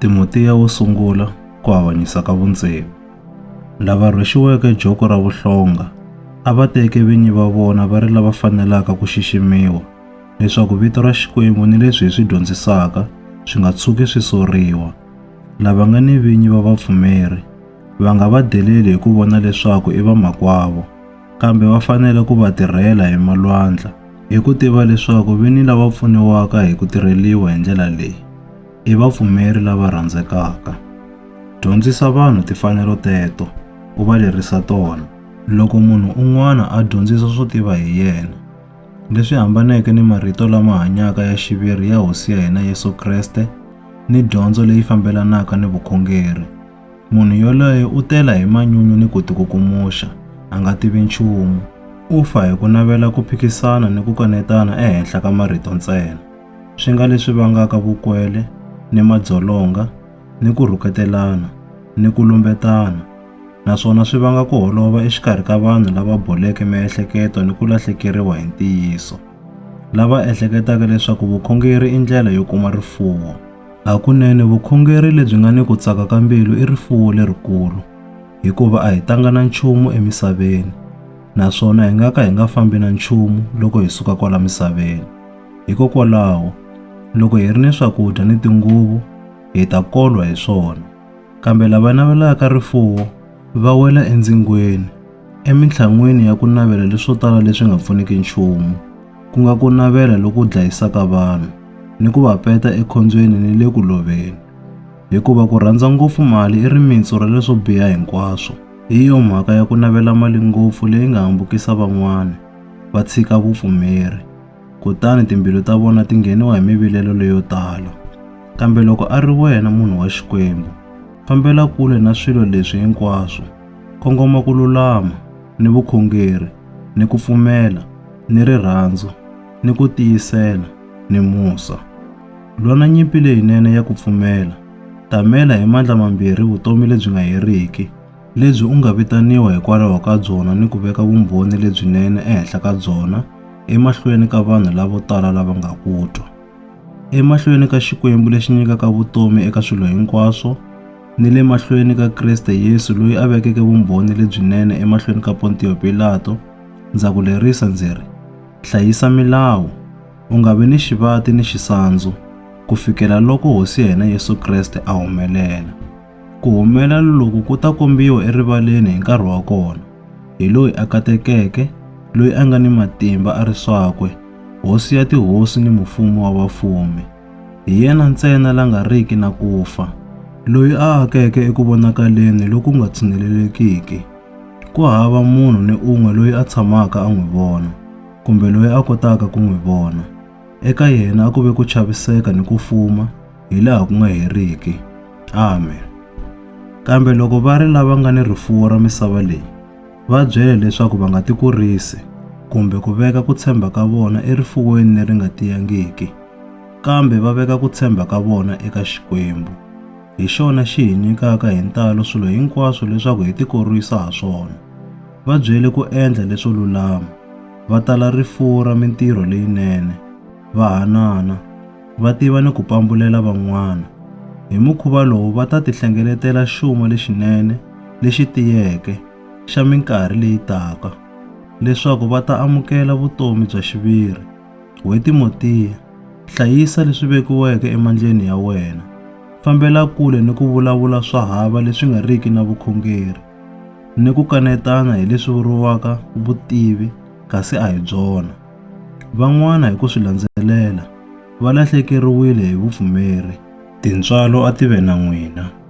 Timotiya wo sungula ku avanyisa ka vundzeni. Lava rhwexiweke joko ra vuhlonga a va teke vinyi va vona va ri lava fanelaka ku xiximiwa leswaku vito ra Xikwembu ni leswi hi swi dyondzisaka swi nga tshuki swi soriwa. Lava nga ni vinyi va vapfumeri va nga va deleli hi ku vona leswaku i vamakwavo. kambe va fanele ku va tirhela hi malwandla hi ku tiva leswaku vini lava pfuniwaka hi ku tirheliwa hi ndlela leyi i vapfumeri lava rhandzekaka. Dyondzisa vanhu timfanelo teto, u va lerisa tona. Loko munhu un'wana a dyondzisa swo tiva hi yena, leswi hambaneke ni marito lama hanyaka ya xiviri ya Hosi ya hina Yesu Kreste ni dyondzo leyi fambelanaka ni vukhongeri, Munhu yoloye u tela hi manyunyu ni ku tikukumuxa, a nga tivi nchumu. U fa hi ku navela ku phikisana ni ku kanetana ehenhla ka marito ntsena. Swi nga leswi vangaka vukwele ni madzolonga ni ku rhuketelana ni ku lumbetana, naswona swi vanga ku holova exikarhi ka vanhu lava boleke miehleketo ni ku lahlekeriwa hi ntiyiso, lava ehleketaka leswaku vukhongeri i ndlela yo kuma rifuwo. Hakunene vukhongeri lebyi nga ni ku tsaka ka mbilu i rifuwo lerikulu, hikuva a hi tanga na nchumu emisaveni, naswona hi nga ka hi nga fambi na nchumu loko hi suka kwala misaveni. Hikokwalaho, loko hi ri ni swakudya ni tinguvu, hi ta kolwa hi swona. Kambe lava navelaka rifuwo va wela endzingweni, emintlhan'wini ya ku navela leswo tala leswi nga pfuniki nchumu. ku nga ku navela loku dlayisaka vanhu ni ku va peta ekhombyeni ni le ku loveni. Hikuva ku rhandza ngopfu mali i rimitsu ra leswo biha hinkwaswo. Hi yo mhaka ya ku navela mali ngopfu leyi nga hambukisa van'wana va tshika vupfumeri, kutani timbilu ta vona ti ngheniwa hi mivilelo leyo tala. Kambe loko a ri wena munhu wa Xikwembu, fambela kule na swilo leswi hinkwaswo, kongoma ku lulama, ni vukhongeri, ni ku pfumela, ni rirhandzu, ni ku tiyisela, ni musa. Lwa na nyimpi leyinene ya ku pfumela. Tamela hi mandla mambirhi vutomi lebyi nga heriki, lebyi u nga vitaniwa hikwalaho ka byona ni ku veka vumbhoni lebyinene ehenhla ka byona emahlweni ka vanhu lavo tala lava nga ku twa. Emahlweni ka Xikwembu lexi nyikaka vutomi eka swilo hinkwaswo, ni le mahlweni ka Kriste Yesu loyi a vekeke vumbhoni lebyinene emahlweni ka Pontiyo Pilato, Ndza ku lerisa ndzi ri, hlayisa milawu, u nga vi ni xivati ni xisandzu, ku fikela loko Hosi ya hina Yesu Kreste a humelela. Ku humelela loku ku ta kombiwa erivaleni hi nkarhi wa kona, hi loyi a katekeke, loyi a nga ni matimba a ri swakwe, Hosi ya tihosi ni Mufumi wa vafumi. Hi yena ntsena la nga riki na ku fa, loyi a akeke eku vonakaleni loku nga tshinelelekiki, Ku hava munhu ni un'we loyi a tshamaka a n'wi vona, kumbe loyi a kotaka ku n'wi vona. Eka yena a ku ve ku chaviseka ni ku fuma hi laha ku nga heriki. Amen. Kambe loko va ri lava nga ni rifuwo ra misava leyi, va byele leswaku va nga tikurisi kumbe ku veka ku tshemba ka vona erifuweni leri nga tiyangiki, kambe va veka ku tshemba ka vona eka Xikwembu. hi xona xi hi nyikaka hi ntalo swilo hinkwaswo leswaku hi tikorwisa ha swona. Va byele ku endla leswo lulama, va tala rifuwo ra mintirho leyinene, va hanana, va tiva ni ku pambulela van'wana. Hi mukhuva lowu va ta tihlengeletela xuma lexinene lexi tiyeke xa minkarhi leyi taka, leswaku va ta amukela vutomi bya xiviri. We Timotiya, hlayisa leswi vekiweke emandleni ya wena. Fambela kule ni ku vulavula swa hava leswi nga riki na vukhongeri, ni ku kanetana hi leswi vuriwaka vutivi kasi a hi byona. Van'wana hi ku swi landzelela va lahlekeriwile hi vupfumeri. Tintswalo a ti ve na n'wina.